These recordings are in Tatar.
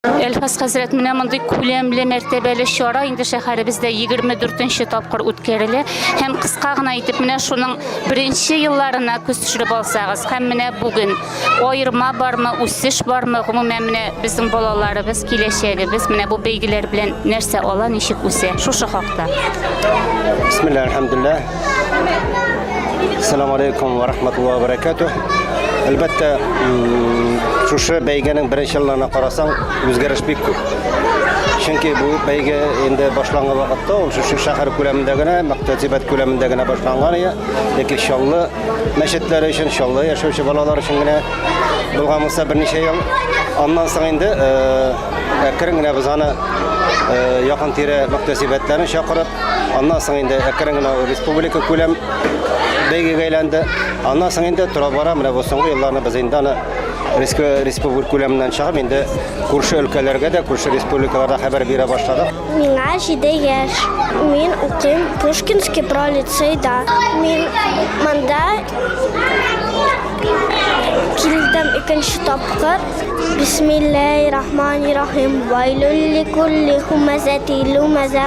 Әлфас хәзрәт, менә мондый күләмле мәртәбәле чара инде шәһәребездә 24 нче тапкыр үткәрелә. Һәм кыска гына итеп менә шуның беренче елларына күз төшереп алсагыз, һәм менә бүген аерма бармы, үсеш бармы, гомумән менә безнең балаларыбыз, киләчәгебез менә бу бәйгеләр белән нәрсә ала, ничек үсә? Шушы хакта. Бисмилла, әлхәмдулилла. Ассаламу алейкум ва рахматуллахи ва баракатух. Әлбәттә, шушы бәйгенең беренче елларына карасаң, үзгәреш бик күп. Чөнки бу бәйге инде башланган вакытта ул шушы шәһәр күләмендә генә, мәктәбәт күләмендә генә башланган иде. Ләкин Чаллы мәчетләре өчен, Чаллы яшәүче балалар өчен генә булган булса берничә ел. Аннан соң инде әкрен генә без аны якын тирә мәктәбәтләрен чакырып, Аннан соң инде әкрен генә республика күләм бәйгегә әйләнде. Аннан соң инде тора-бара менә бу соңгы елларны без инде аны республика күләменнән чыгып, инде күрше өлкәләргә дә, күрше республикаларда хәбәр бирә башладык. Миңа 7 яшь. Мин укыйм Пушкинский про лицейда. Мин монда килдем икенче тапкыр. Бисмиллаһир-рахманир-рахим. Вайлюлли кулли хумазати лумаза.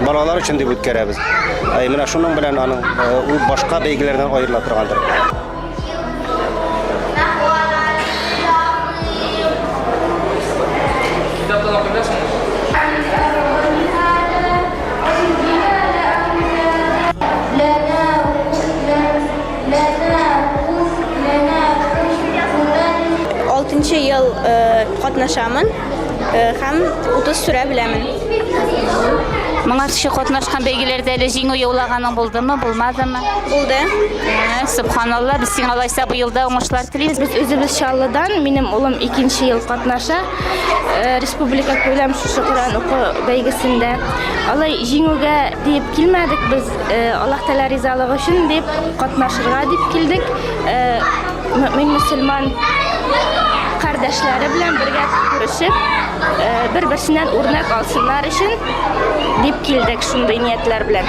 Балалар өчен дип үткәрәбез. Ә менә шуның белән аның ул башка бәйгеләрдән аерыла торгандыр. Алтынчы ел катнашамын. һәм утыз сүрә беләмен. Моңа кеше катнашкан бәйгеләрдә әле җиңү яулаганың булдымы, булмадымы? Булды. Ә, Субханалла, без сиңа алайса быел да уңышлар телибез. Без үзебез Чаллыдан, минем улым икенче ел катнаша. Э, Республика күләм шушы Коръән уку бәйгесендә. Алай җиңүгә диеп килмәдек без, э, Аллаһ Тәгалә ризалыгы өчен дип катнашырга дип килдек. Э, Мөмин мөселман кардәшләре белән бергә күрешеп, бер-берсеннән үрнәк алсыннар өчен дип килдек шундый ниятләр белән.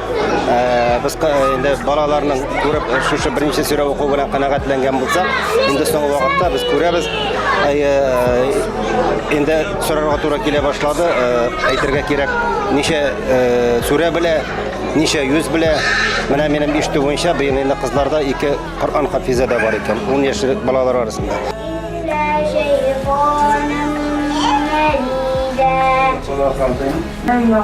Без инде балаларның күреп шушы беренче сүрә уку белән канәгатьләнгән булсак, инде соңгы вакытта без күрәбез, инде сорарга туры килә башлады, әйтергә кирәк, ничә сүрә белә, ничә юз белә. Менә минем ишетү буенча, быел инде кызларда ике Коръән хафизы да бар икән, 10 яшьлек балалар арасында. Миннән шәйтаным, Мәлидә.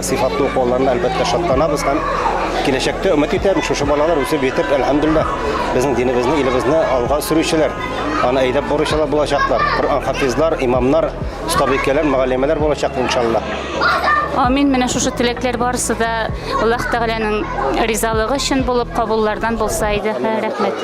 Сыйфатлы уку алларына әлбәттә шатланабыз һәм киләчәктә өмет итәм, шушы балалар үсеп җитеп, әлхәмдуллаһ, безнең динебезне, илебезне алга сөрүчеләр, аны әйдәп баручылар булачаклар, Коръән хафизлар, имамнар, остабикәләр, мөгаллимәләр булачак иншаллаһ. Амин, менә шушы теләкләр барысы да Аллаһ Тәгаләнең ризалыгы өчен булып кабуллардан булса иде. Рәхмәт.